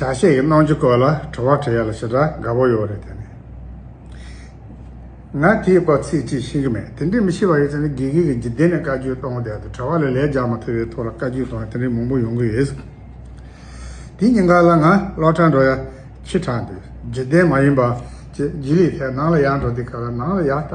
བྱ་བྱེད་ཀྱི་སྣང་ཆུ་བཀོད་ལ་བྲོ་བ་བྲོས་ཡ་ལ་ཞེ་དྲག་དགའ་བོ་ཡོད་རེད་དེ། ང་དེའི་སྐོར་ཚིག་གཅིག་ཤེས་ཀྱི་མེད་དེ་འདྲའི་མི་ཤེས་པ་ཡོད་ཚད་ནི་དགེ་རྒན་གྱིས་འཇིག་རྟེན་ནས་བཀའ་བརྒྱུད་གཏོང་བསྡད་དུ་གྲྭ་བ་ལས་ལས་རྒྱག་མ་ཐུབ་པའི་ཐོག་ལ་བཀའ་བརྒྱུད་གཏོང་བ་དེ་འདྲའི་མང་པོ་ཡོང་གི་ཡོད། དེ་གཉིས་ཀ་ལ་ང་སློབ་གྲྭར་འགྲོ་ཡ་ཁྱི་དྲག་འདུག་འཇིག་རྟེན་མ་ཡིན་པ་བཅས་རྗེས་ལུས་ཐད་ནང་ལ་ཡར་འགྲོ་དེ་ག་ལ་ནང་ལ་ཡར་ལྟ།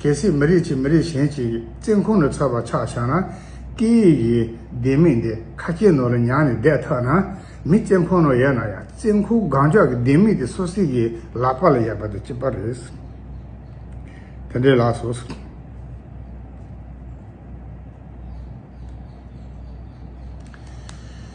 གལ་སྲིད་མི་རིགས་གཅིག་མི་རིགས་གཞན་གྱི་བཙན་ཁུང་ནས་འཚོལ་བར་ཆགས་བཞག་ན། སྐད་ཡིག་གི་ལྡེ་མིག་འདི་ཁ་སྐྱེ་ནོར་ལ་མྱངས་ནས་བསྡད་ཐག་ན། མི་བཙན་ཕོ་ནོ་ཡལ་ན་ཡང་བཙན་ཁུག་སྒང་ལྕོག་གི་ལྡེ་མིག་དེ་སོ་སྲིད་ཀྱི་ལག་པ་ལ་ཡལ་བ་དང་གཅིག་པ་རེད། དེ་འདྲའི་ལགས་སོ།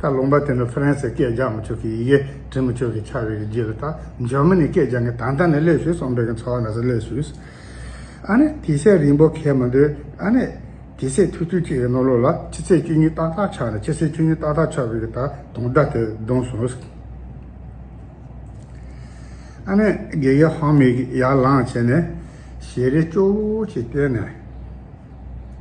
ད་ལུང་པ་དེ་ནི་ཧྥ་རན་སིའི་སྐད་སྦྱང་མི་ཆོག་གི་ཡི་གེ་འབྲི་མི་ཆོག་གི་ཆགས་ཡོད་རྒྱུ་རེད་ད་འཇར་མ་ནི་སྐད་སྦྱང་གི་དང་ཐ་ནས་སླེབས་ཞུས་སོང་བོད་ཀྱི་ཚོགས་ནས་སླེབས་ཞུས་ཨ་ནི་དེ་སྲས་རིན་པོ་གེ་མ་འདུག་ཨ་ནི་དེ་སྲས་ཐུག་ཐུག་ཅིག་གི་ནོར་ལོག་ལ་ཕྱི་ཚེས་བཅུ་གཉིས་ཏག་ཏག་ཆགས་ནས་ཕྱི་ཚེས་བཅུ་གཉིས་ཏག་ཏག་ཆགས་བོད་ཀྱི་ད་དུང་སྒྲ་དེ་བརྡུང་སོང་ཨ་ནི་དགེ་རྒན་ཧོང་མིག་ཡར་ལངས་བྱས་ནས་ཞལ་རས་ཅོག་ཅིག་བསྟན་ནས།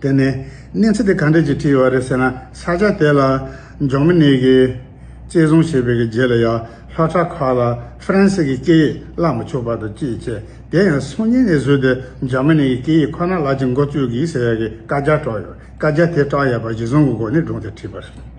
དེ་ནས་གནས་ཚུལ་དེ་ག་འདྲས་ཀྱིས་བྲིས་བ་རེད་ཟེར་ན་ས་ཆ་དེ་ལ་འབྱོར་མི་གནས་ཀྱི་བཅད་བཟུང་བྱས་པའི་རྗེས་ལ་ཡང་ལྷོ་བྲག་ཁག་ལ་ཧྥ་རན་སི་གི་སྐད་ཡིག་བཀླག་མི་ཆོག་པ་དང་ཅི་བྱས་དེ་ཡང་སང་ཉིན་ནས་བཟོས་ཏེ་འབྱོར་མི་གནས་ཀྱི་སྐད་ཡིག་ཁོ་ན་ལག་ཀྱི་འགོ་བཙུགས་གི་ཟེར་ཡག་གི་བཀའ་རྒྱ་བཀྲོགས་ཡོད་བཀའ་རྒྱ་དེ་བཀྲག་ཡག་པ་གཞི་བཟང་གི་སྒོ་ནས་བསྒྲུངས་ཏེ་བྲིས་པ་རེད།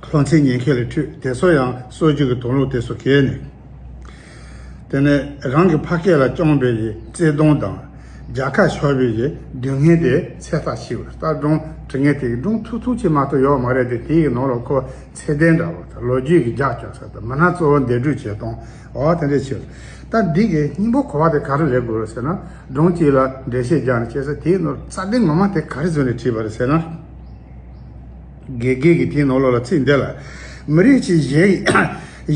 ལྷོ་མཚན་ཉན་མཁས་ལས་འཁྲུལ་དེ་ཚོ་ཡང་སྲོལ་རྒྱུན་གྱི་དོན་ལུགས་དེ་སུ་གས་ནས། དེ་ནས་རང་གི་ཕ་སྐད་ལ་སྐྱོང་བའི་ཡི་བརྩེ་གདུང་དང་རྒྱ་ཁ་ཤོར་བའི་ཡི་སྡུག་བསྔལ་དེ་ཚད་ཐག་ཆིག་བར་ལྟར་སྒྲུང་དྲི་ངན་དེ་ཡི་སྒྲུང་ཐུག་ཐུག་ཅིག་མ་གཏོགས་ཡོག་མ་རེད་དེ་དེ་ཡི་ནང་ལ་ཁོ་ཚད་ལྡན་འདྲ་བོ་དང་ལོ་རྒྱུས་ཀྱི་རྒྱགས་སྐྱོགས་ཟེར་དང་མི་སྣ་གཙོ་བོ་འདས་གྲོས་བྱས་སྟོང་འོག་དེ་འདྲས་ཆོད། ད་འདི་གའི་སྙིང་པོ་གོ་བ་དེ་ག་རེ་རེད་དགོས་ཟེར་ན། སྒྲུང་གཅིག་ལ་འགྲེལ་བཤད་རྒྱག་ནས་བྱས་ཚེ་དེའི་ནོར་རྩ་དེ་ངོ་མ་དེ་ག་རེ་བཟོས་ནས་བྲིས་པ་རེད་ཟེར་ན། དགེ་རྒན་གྱིས་དེའི་ནོར་ལོག་ལ་ཚིག་འདི་ལ། མི་རིགས་ཆེ་གཞན་ཡི་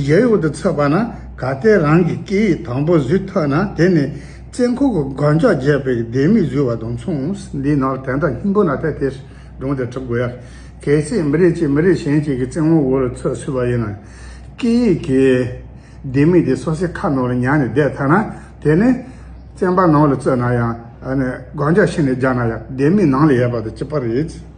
གཞལ་ཡུལ་དུ་ཚུད་པ་ན་ག་ལྟེ་རང་གི་སྐད་ཡིག་དང་པོ་བཟོས་ཐུབ་ན་དེ་ནི་བཙན་ཁུག་གི་རྒོད་འཇགས་རྒྱས་པའི་ལྡེ་མིག་བཟོས་བ་དང་མཚུངས། འདིའི་ནང་དན་རྟགས་སྙིང་པོ་ནག་ཐལ་ཐལ་སྒྲུང་དེ་གྲུབ་དགོས་ཡ། གལ་སྲིད་མི་རིགས་གཅིག་མི་རིགས་གཞན་གཅིག་གི་བཙན་དབང་འོག་ལ་ཚུད་སྲིད་པ་ཡིན་ན། སྐད་ཡིག་གི་ལྡེ་མིག་དེ་སོ་སའི་ཁ་ནང་ལ་ཉར་ནས་བསྡད་ཐལ་ན་དེ་ནི། བཙན་པ་ནང་ལ་བཙུད་ན་ཡང། རྒོད་འཇགས་ཕྱི་ནས་རྒྱག་ན་ཡང་ལྡེ་མིག་ནང་ལ་ཡལ་བ་དང་གཅིག་པ་རེད།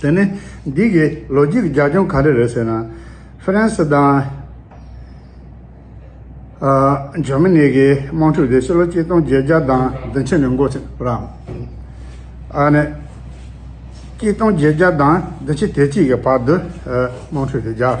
དེ་ནི་འདི་གའི་ལོ་རྒྱུས་ཀྱི་རྒྱབ་ལྗོངས་ག་རེ་རེད་ཟེར་ན། ཧྥི་རན་སི་དང། འཇར་མ་ནི་གི་དམག་འཁྲུག་དེ་ཕྱི་ལོ་ཆིག་སྟོང་བརྒྱད་བརྒྱ་དང་བདུན་ཕྱི་ནས་འགོ་ཚུགས་པ་རང། ཨ་ནི། ཆིག་སྟོང་བརྒྱད་བརྒྱ་དང་བདུན་ཕྱི་དེ་གཅིག་གི་བར་དུ་དམག་འཁྲུག་དེ་རྒྱབ།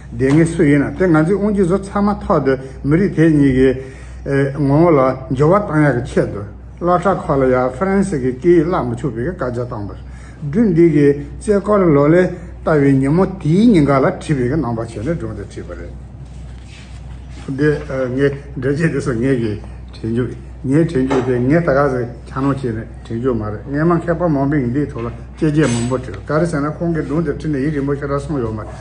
དེ་ངས་སུ་ཡིན་ན་དེ་ང་ཚོའི་དབུ་འཁྱུད་བཟོ་ཚར་མ་ཐག་ཏུ་མི་རིགས་དེ་གཉིས་ཀྱི་ངོ་བོ་ལ་འགྱུར་བ་བཏང་ཡག་གི་ཆེད་དུ་སློ་གྲྭ་ཁག་ལ་ཡང་ཧྥ་རན་སི་གི་སྐད་ཡིག་བསླབ་མི་ཆོག་པའི་བཀའ་རྒྱ་བཏང་པར་སྦྲུལ་འདི་གིས་རྩེ་སྐོར་ལོ་ལེ་བལྟ་བའི་ཉིན་མོ་དེའི་ཉིན་འགའ་ལ་བྲིས་པའི་ནང་པ་བྱས་ནས་སྒྲུང་དེ་བྲིས་པ་རེད། འདི་ངས་འགྲེལ་བྱེད་དེ་སོ་ངེས་ཀྱིས་བྲིས་འགྱུར། ངའི་བྲིས་འགྱུར་དེ་ངས་ད་ག་ཟེ་ཁྱག་ནོར་བྱས་ནས་བྲིས་འགྱུར་མ་རེད་ངས་མ་མཁས་པ་མང་པོས་འདིའི་ཐོག་ལ་དཔྱད་རྗེས་མང་པོ་བྲིས་ག་རེ་ཟེར་ན་ཁོང་གིས་སྒྲུང་དེ་བྲིས་ནས་ཡིད་རིང་པོ་ཤོར་ར་སོང་ཡོད་མ་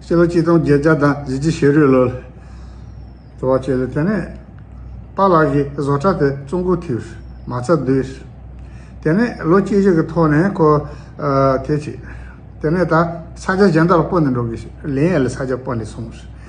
སྤྱི་ལོ་གཅིག་སྟོང་བརྒྱད་བརྒྱ་དང་བཞི་བཅུ་ཞེ་རུའི་ལོ་ལོ་བ་བྱས་ལ་དེ་ནས་པཱ་ལགས་ཀྱིས་བཟོ་གྲྭ་དེ་བཙུགས་འགོ་ཐིགས་མ་རྩ་བསྡུས། དེ་ནས་ལོ་གཅིག་གཅིག་གི་ཐོག་ནས་ཁོ་དེ་བྱས། དེ་ནས་ད་ས་ཆ་གཞན་དག་ལ་སྤོ་ནས་འགྲོ་དགོས་ཞེས་ལིན་ཨེ་ལ་ས་ཆ་སྤོ་ནས་སོང།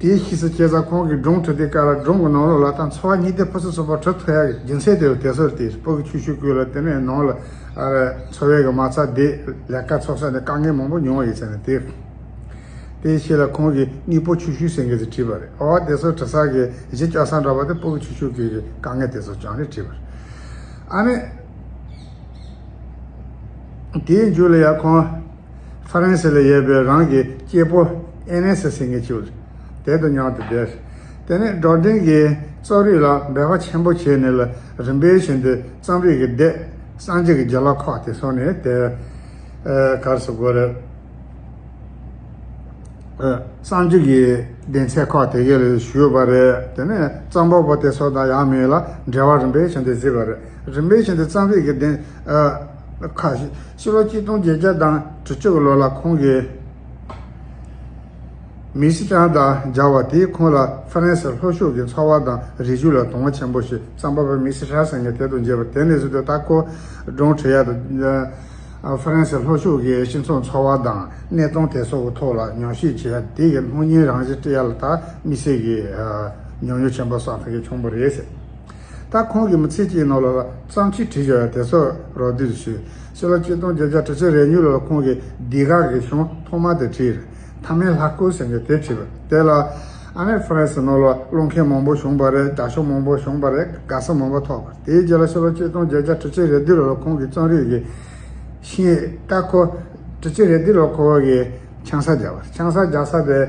དེའི་གཞི་སུ་སྐྱེས་ཙང་ཁོང་གིས་སྒྲུང་དྲུག་དེ་ཀ་ར་སྒྲུང་གི་ནང་ལོགས་ལ་དང་འཚོ་བ་གཉིས་ལྡན་ཕུན་སུམ་ཚོགས་པ་བྲོ་ཐོ་ཡག་གི་རྒྱུན་ཚད་དེ་རུ་དེ་སོར་དེའི་སྤུ་གི་ཆུ་ཤུར་བསྐུས་ལ་དེ་ནས་ནང་ལ་འཚོ་བའི་གི་མ་རྩ་དེ་ལས་ཀ་འཚོགས་ས་ནས་དཀའ་ངལ་མང་པོ་མྱོང་བ་ཡོད་ཚད་ནས་དེ་དེའི་ཕྱི་ལ་ཁོང་གིས་སྙིགས་སྤུ་ཆུ་ཤུར་སེང་གེ་དེ་བྲིས་པ་རེད་ཨོ་དེ་སོར་བྲི་ས་གི་གཞི་སྐྱོ་ས་འདྲ་བ་དེ་སྤུ་གི་ཆུ་ཤུར་བསྐུས་གི་དཀའ་ངལ་དེ་སོར་ཀྱང་རེད་བྲིས་པ་རེད་ཨ་ནི་དེའི་མཇུག་ལ་ཡང་ཁོང། ཧྥ་རན་སི་ལ་ཡོད་པའི་རང་གི་སྐྱེས་པོ་ཨེ་ནེ་སི་སིང་གི་ཆུ་དེད་དུ་མྱང་དུ་བསྡད། དེ་ནས་འབྲོག་སྡིངས་ཀྱི་རྩོམ་རིག་ལ་འབད་པ་ཆེན་པོ་བྱས་ནས་ལ་རིམ་པའི་བཞིན་དུ་རྩོམ་རིག་གི་སྡེ་སངས་རྒྱས་ཀྱི་རྒྱ་ལ་ཁོག་དེ་སོང་ནས་དེ་གར་སུ་གོ་རེ་སངས་རྒྱས་ཀྱི་གདན་ཚད་ཁོག་དེ་གའི་ལ་བཞུགས་པ་རེད་དེ་ནས་རྩོམ་པ་པོ་དེ་སོགས་དང་ཡང་མིན་ལ་འབྲེལ་བ་རིམ་པའི་བཞིན་དུ་བརྩིས་པ་རེད་རིམ་པའི་བཞིན་དུ་རྩོམ་རིག་གི་གདན་ཁ་ཤས་ཕྱི་ལོ་གཅིག་སྟོང་བརྒྱད་བརྒྱ་དང་དྲུག་ཅུ་གི་ལོ་ལ་ཁོང་གིས་མི་སི་ཀྲང་དང་སྦྱར་བ་དེས་ཁོང་ལ་ཧྥ་རན་སིར་ལྷོ་ཕྱོགས་ཀྱི་འཚོ་བ་དང་རི་ཆུ་ལ་དོ་སྣང་ཆེན་པོ་ཞིག་བསམ་པ་པོ་མི་སི་ཧྲ་སེང་གེ་དེ་དང་མཇལ་བ་དེ་ནས་བཟུང་སྟེ་ཏཱ་ཁོ་རོང་ཁྲི་ཡ་དང། ཧྥ་རན་སིའི་ལྷོ་ཕྱོགས་ཀྱི་སྤྱི་ཚོགས་འཚོ་བ་དང་གནས་སྟངས་དེ་སོགས་ཀྱི་ཐོག་ལ་ཉམས་ཞིབ་བྱས་ཡ་དེ་ཡི་སྣང་བརྙན་རང་བཞིན་བཀྲི་ཡ་ལ་དྭགས་མི་སེར་གྱི་མྱོང་མྱོང་ཆེན་པོ་བསགས་ཐུབ་མཁན་བྱུང་བ་རེད། ད་ཁོང་གིས་མི་ཚེ་གཅིག་ནང་ལོ་ལ་བརྩམས་ཆོས་བྲིས་ཡོད་དེ་ཚོ་རོགས་བསྡུས་ཞུས། ཕྱི་ལོ་གཅིག་སྟོང་བརྒྱད་བརྒྱ་དྲུག་ཅུ་རེ་གཉིས་ལོ་ལ་ཁོང་གིས་སྡིག་ར་གི་གཞུང་ཐོག་མ་དེ་བྲིས། མཐའ་མའི་ལྷ་སྐུ་ཟེར་མཁན་དེ་བྲིས་པ་དེ་ལ། ཨ་མེས་ཧྥ་རན་སི་ནང་ལོ་སློང་མཁན་མང་པོ་བྱུང་བ་རེད་བདག་ཕྱོགས་མང་པོ་བྱུང་བ་རེད་དགའ་བསུ་མང་པོ་ཐོགས། དེའི་རྗེས་ལ་ཕྱི་ལོ་གཅིག་སྟོང་བརྒྱད་བརྒྱ་དྲུག་ཅུ་རེ་བདུན་ལོ་ལ་ཁོང་གིས་རྩོམ་རིག་གི་ཤིང་རྟ་ཁོ། དྲུག་ཅུ་རེ་བདུན་ལོ་ཁོ་བོ་གིས་ཆང་ས་རྒྱག་པ་རེད་ཆང་ས་རྒྱག་ས་དེ།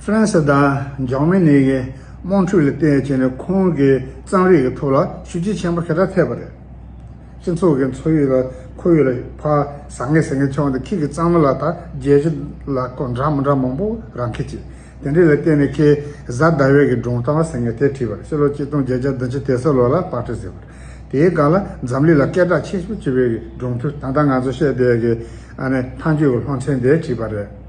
ཧྥ་རན་སི་དང་འཇར་མ་ནི་ཡི་དམངས་ཁྲོད་ལ་བལྟས་ཚེ་ནི་ཁོང་གི་གཙང་རིས་ཀྱི་ཐོག་ལ་ཤུགས་རྐྱེན་ཆེན་པོ་ཧེ་བགྲང་ཐེབས་པ་རེད། སྤྱི་ཚོགས་ཀྱི་འཚོ་ཡུལ་ལ་ཁོར་ཡུག་ལ་ཕ་ཟ་ངེ་ཟ་ངེ་ཆོག་འདི་ཁྱེད་ཀྱི་གཙང་མ་ལ་དང་རྒྱལ་སྤྱི་ལ་སྐོར་འདྲ་མི་འདྲ་མང་པོ་རང་ཁེ་ཆེ། དེ་འདྲའི་ལ་བལྟས་ནས་ཁྱེད་བཟའ་ཟླ་བས་ཀྱི་སྒྲུང་གཏམ་བ་ཟེར་ངེས་དེ་བྲིས་པར་ཕྱི་ལོ་གཅིག་སྟོང་བརྒྱད་བརྒྱ་དང་ཅི་དེ་སོ་ལོ་ལ་དཔར་ཁྲིད་ཟེར་བ་རེད། དེའི་སྒང་ལ་འཛམ་གླིང་ལ་སྐད་གྲགས་ཆེ་ཤོས་བྱེད་པའི་ཀྱི་སྒྲུང་ཐུང་ད་ལྟ་ང་ཚོ་བཤད་བསྡད་ཀྱི་ཨ་ནི་ཐང་ཆོས་ཀྱི་ལྷོ་མཚན་དེ་བྲིས་པ་རེད།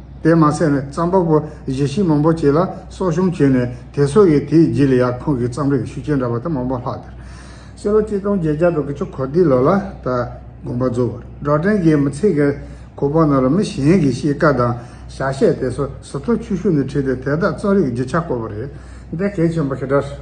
དེ་མ་ཟད་ནས་རྩམ་པ་པོ་བཞི་ཤིང་མང་པོ་བྱས་ལ་གསོག་གཤོམ་བྱས་ནས་དེ་སོགས་ཀྱིས་དེའི་རྗེས་ལ་ཡར་ཁོང་གི་རྩམ་རིགས་ཤུགས་ཆེན་འདྲ་བ་དེ་མང་པོ་ལྷག་དེར། སེ་ལོ་སྐྱིད་སྟོང་བརྒྱད་བརྒྱ་དྲུག་གི་ཆུ་འཁོར་འདི་ལོ་ལ་ད་དགོན་པ་འཛུགས་པར་སྒྲོག་འགྲེལ་གྱི་མི་ཚེ་གི་གོ་བབ་རྣམས་ལ་མི་གཞན་གྱི་གཤིས་ཀ་དང་བྱ་བྱེད་དེ་སོ་སོ་ཐོག་ཆུ་ཤུགས་ནས་ཁྲིད་དེ་དེ་དག་རྩོམ་རིག་གི་རྒྱུ་ཆ་བཀོད་པ་རེད་འདི་གལ་ཆེན་པོ་ཞེ་དྲགས་སོ།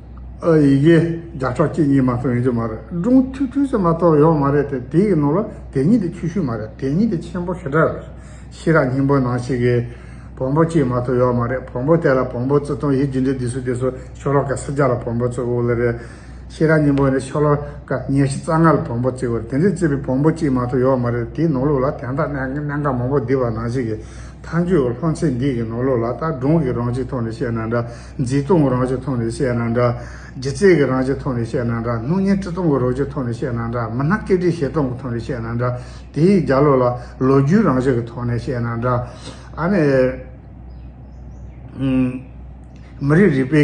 ཨ་ཡི་གེ། བརྒྱ་ཕྲག་གཅིག་གཉིས་མ་གཏོགས་ཡོད་རྒྱུ་མ་རེད། སྒྲུང་ཐུང་ཐུང་ཞིག་མ་གཏོགས་ཡོད་མ་རེད་དེ། དེའི་ནང་ལ་དེ་ཉིད་དེ་ཆུ་ཤུར་མ་རེད་དེ་ཉིད་དེ་ཆེན་པོ་ཞེ་དྲག་རེད། ཤེས་རབ་སྙིང་པོའི་ནང་ཞིག་གི། བོང་བུ་གཅིག་མ་གཏོགས་ཡོད་མ་རེད་བོང་བུ་དེ་ལ་བོང་བུ་བཙུགས་སྟངས་ཡིད་འགྱུ་འདི་འདི་སུ་དེ་སུ་ཤོ་ལོ་ཀ་ས་བརྒྱ་ལ་བོང་བུ་བཙུགས་འོག་ལ་རེད། ཤེས་རབ་སྙིང་པོ་ནི་ཤོ་ལོ་ཀ་ཉེར་བཞི་རྩ་ལྔ་ལ་བོང་བུ་བཙིགས་འོག་དེ་འདྲའི་བཙིགས་པའི་བོང་བུ་གཅིག་མ་གཏོགས་ཡོད་མ་རེད་དེའི་ནང་ལུགས་ལ་དན་རྟགས་གནད་འགག་མང་པོ་བསྡུས་པ་ནང་ཞིག་གི། མཐའ་མཇུག་ལྷོ་མཚན་འདི་གི་ནང་ལུགས་ལ་ད་སྒྲུང་གི་རང་བཞིན་ཐོག་ནས་བཤད་ན་འདྲ། མཛེས་སྟོང་གི་རང་བཞིན་མཐོང་ནས་བཤད་ན་འདྲ། ལྗིད་ཚད་ཀྱི་རང་བཞིན་མཐོང་ནས་བཤད་ན་འདྲ། སྣང་བརྙན་དཀྲི་སྟོང་གི་རོ་བཞིན་མཐོང་ནས་བཤད་ན་འདྲ། མི་སྣ་སྐད་དཀྲིས་བཤད་སྟོང་གི་མཐོང་ནས་བཤད་ན་འདྲ། དེ་ཡི་རྒྱ་ལོ་ལ། ལོ་རྒྱུས་རང་བཞིན་གྱི་མཐོང་ནས་བཤད་ན་འདྲ། ཨ་ནི། མི་རིགས་རིག་པའི་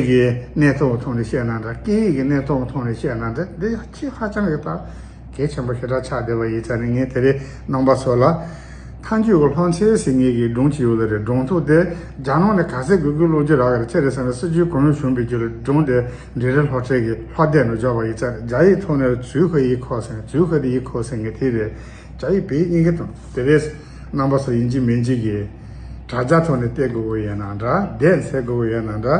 གནས་སྟོང་གི་མཐོང་ནས་བཤད་ན་འདྲ། སྐད་ཡིག་གི་གནས་སྟོང་གི་མཐོང་ནས་བཤད་ན་འདྲ། འདི་ཡང་ཁྱེད་ཧ་ཅང་གི་ལྟ། གལ་ཆེན་པོ་ཞེ་དྲག་ཆགས་བསྡད་པ་ཡིན་ཚ་ནི་ངས་དེ་རེས་གནང་པ་སོགས་ལ། ཐང་ཆུ་བོ་ལྷོ་མཚེའུ་ཟིང་ངེ་གི་སྒྲུང་ཅི་ཡོད་ལ་རེ་སྒྲུང་ཐུག་སྟེ་རྒྱ་ནང་ནས་ག་ཚད་གུས་གུས་ཀློག་རྒྱུ་རག་གི་ཆེ་རེ་ཟེར་ན་སྲིད་ཇུས་གང་ཡོད་ཞུམ་པའི་རྒྱུ་ལས་སྒྲུང་དེ་འབྲི་རེས་ལྷོ་ཁྲལ་གི་ལྷོ་སྡེ་ནས་འཇོག་པ་ཡིན་ཚ་རྒྱ་ཡིག་ཐོག་ནས་ཚུལ་ཁ་ཡིག་ཁོག་ཟིང་ཚུལ་ཁ་དེ་ཡིག་ཁོག་ཟིང་ངེ་དེ་རེས་རྒྱ་ཡིག་བེད་གཉིས་ཀྱི་དང་དེ་རེས་གནང་པ་སོགས་ཡིན་གཅིག་མིན་གཅིག་གི་དྲ་རྒྱ་ཐོག་ནས་བལྟས་དགོས་པོ་ཡོད་ན་འདྲ་བསྡད་འཚལ་དགོས་པོ་ཡོད་ན་འདྲ།